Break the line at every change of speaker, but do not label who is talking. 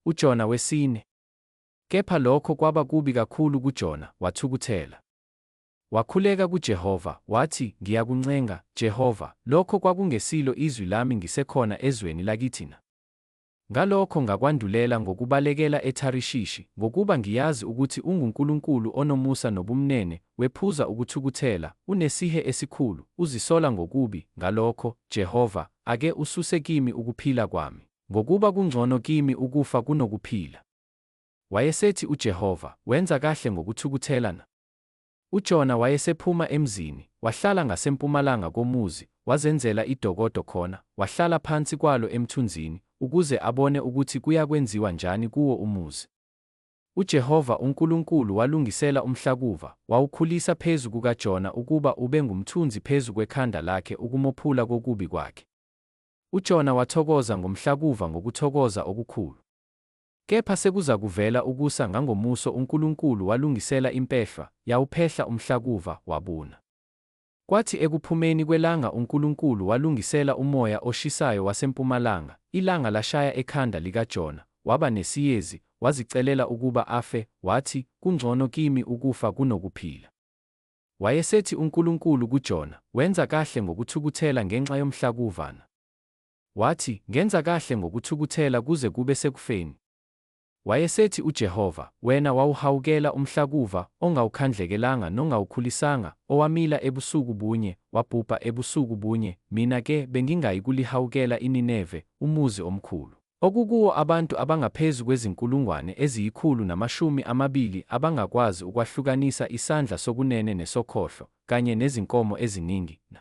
UJona wesine. Kepha lokho kwaba kubi kakhulu kuJona, wathukuthela. Wakhuleka kuJehova, wathi, Ngiyakuncenga, Jehova, lokho kwakungesilo izwi lami ngisekhona ezweni lakithi na? Ngalokho ngakwandulela ngokubalekela eTharishishi, ngokuba ngiyazi ukuthi unguNkulunkulu onomusa nobumnene, wephuza ukuthukuthela, unesihe esikhulu, uzisola ngokubi, ngalokho, Jehova, Ake ususe kimi ukuphila kwami, ngokuba kungcono kimi ukufa kunokuphila. Wayesethi uJehova, wenza kahle ngokuthukuthela na? UJona wayesephuma emzini, wahlala ngasempumalanga komuzi, wazenzela idokodo khona, wahlala phansi kwalo emthunzini, ukuze abone ukuthi kuyakwenziwa njani kuwo umuzi. UJehova uNkulunkulu walungisela umhlakuva, wawukhulisa phezu kukaJona ukuba ube ngumthunzi phezu kwekhanda lakhe ukumophula kokubi kwakhe. UJona wathokoza ngomhlakuva ngokuthokoza okukhulu. Kepha sekuzakuvela ukusa ngangomuso uNkulunkulu walungisela impehlwa, yawuphehla umhlakuva, wabuna. Kwathi ekuphumeni kwelanga uNkulunkulu walungisela umoya oshisayo wasempumalanga, ilanga lashaya ekhanda likaJona, waba nesiyezi, wazicelela ukuba afe, wathi, Kungcono kimi ukufa kunokuphila. Wayesethi uNkulunkulu kuJona, Wenza kahle ngokuthukuthela ngenxa yomhlakuvana. Wathi, Ngenza kahle ngokuthukuthela kuze kube sekufeni. Wayesethi uJehova, Wena wawuhawukela umhlakuva, ongawukhandlekelanga nongawukhulisanga, owamila ebusuku bunye, wabhubha ebusuku bunye, mina-ke bengingayi kulihawukela iNineve, umuzi omkhulu, okukuwo abantu abangaphezu kwezinkulungwane eziyikhulu namashumi amabili abangakwazi ukwahlukanisa isandla sokunene nesokhohlo, kanye nezinkomo eziningi, na.